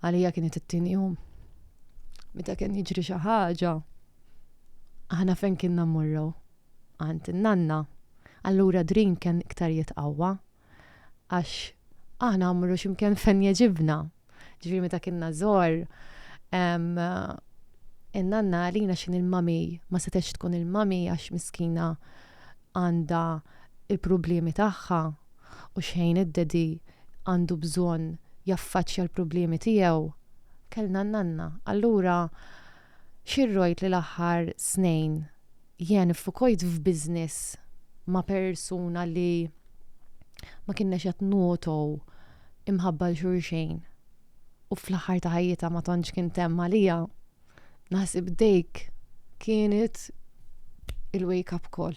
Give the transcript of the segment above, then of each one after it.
Għalija kienet it-tieni jum. Meta kien jiġri xi ħaġa, aħna fejn kienna mmorru għand in-nanna. Allura drin kien iktar jitqawwa għax aħna mmorru x'imkien fejn jeġibna. Ġifieri meta kienna żgħar in-nanna għalina x'in il-mami ma setgħetx tkun il-mami għax miskina għandha il-problemi tagħha u xħin id-daddy għandu bżonn jaffaċċja l-problemi tiegħu, kellna n-nanna. Allura xirrojt li l-aħħar snejn jien iffukojt f'business ma' persuna li ma kinnex qed ngħotow imħabba 'l xulxejn u fl-aħħar ta' ħajjitha ma tantx kien temm għalija. Naħseb dejk kienet il-wake up call.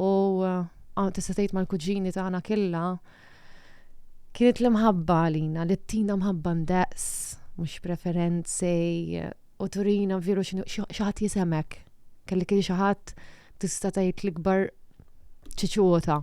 u ah, tista' tgħid mal-kuġini tagħna killa kienet l-imħabba għalina li tina mħabba ndaqs, mhux preferenzi u turina veru xi ħadd jisemek. Kelli kien xi ħadd tista' tgħid l-ikbar ċiċuta.